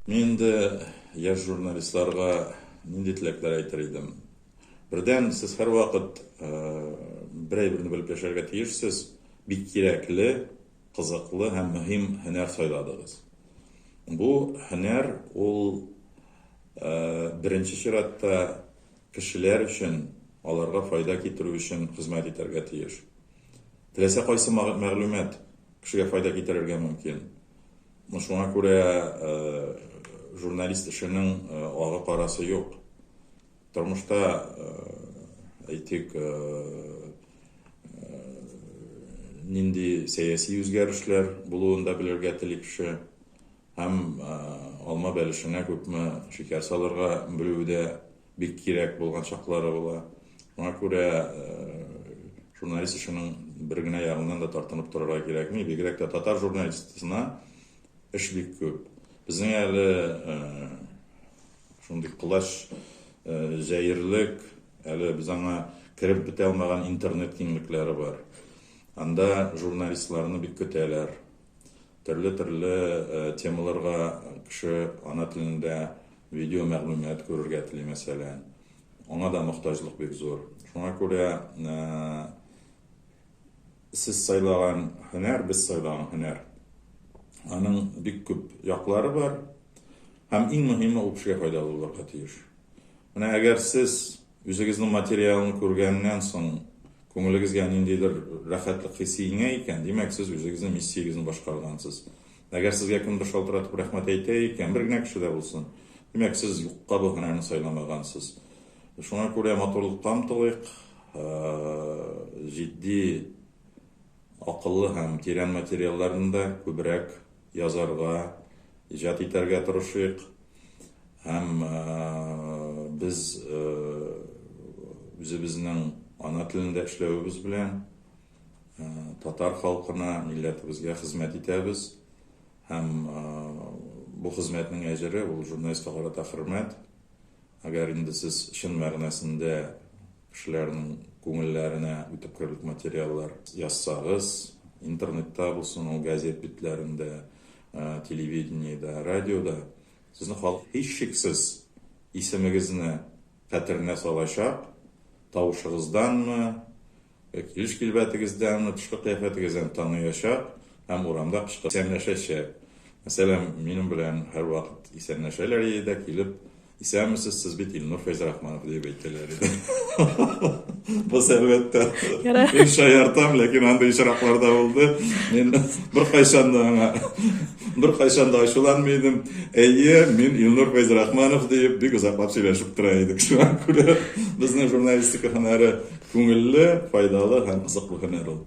Мин инде яшь журналистларга нинди теләкләр әйтер идем? Бердән, сез һәрвакыт берәйберне белеп яшәргә тиешсез, бик кирәкле, кызыклы һәм мөһим һөнәр сайладыгыз. Бу һөнәр ул беренче чиратта кешеләр өчен, аларга файда китерү өчен хезмәт итәргә тиеш. Теләсә кайсы мәгълүмат кешегә файда китерергә мөмкин. Ну шуңа күрә журналист эшенең агы карасы юк. Тормышта әйтик нинди сәяси үзгәрешләр булуын да белергә тели кеше һәм алма бәлешенә күпме шикәр салырга белүе дә Бик кирәк булган чаклары була. Шуңа күрә журналист эшенең бер генә ягыннан да тартынып торырга кирәкми. Бигрәк тә татар журналистына эш бик күп. Безнең әле шундый колач җәерлек, әле без аңа кереп бетә алмаган интернет киңлекләре бар. Анда журналистларны бик көтәләр. Төрле-төрле темаларга кеше ана телендә видео мәгълүмат күрергә тели, мәсәлән. Аңа да мохтаҗлык бик зур. Шуңа күрә сез сайлаган һөнәр, без сайлаган һөнәр, аның бик күп яклары бар. Һәм иң мөһиме, ул кешегә файдалы булырга тиеш. Менә әгәр сез Үзегезнең материалны күргәннән соң күңелегезгә ниндидер рәхәтлек хисе иңә икән, димәк, сез үзегезнең миссиягезне башкаргансыз. Әгәр сезгә кемдер шалтыратып рәхмәт әйтә икән, бер генә кеше дә булсын, димәк, сез юкка бу һөнәрне сайламагансыз. Шуңа күрә матурлыкка омтылыйк, җитди, акыллы һәм тирән материалларны да күбрәк Язарга, иҗат итәргә тырышыйк. Һәм без үзебезнең ана телендә эшләвебез белән татар халкына, милләтебезгә хезмәт итәбез. Һәм бу хезмәтнең әҗере, ул журналистка карата хөрмәт. Әгәр инде сез чын мәгънәсендә кешеләрнең күңелләренә үтеп керерлек материаллар язсагыз, интернетта булсын ул, газет битләрендә, телевидениедә, радиода, сезнең халык, һичшиксез, исемегезне хәтеренә салачак, тавышыгызданмы, Килеш килбәтегездән, тышкы кыяфәтегездән таныячак һәм урамда кычкырып исәнләшәчәк. Мәсәлән, минем белән һәрвакыт исәнләшәләр иде дә, килеп, Исәнмесез, сез бит Илнур Фәйзрахманов, диеп әйтәләр иде. Боз, әлбәттә, мин шаяртам, ләкин андый очраклар да булды. Мин беркайчан да аңа. Беркайчан да ачуланмый идем. Әйе, мин Илнур Фәйзрахманов диеп бик озаклап сөйләшеп тора идек. Шуңа күрә безнең журналистика һөнәре күңелле, файдалы һәм кызыклы һөнәр ул.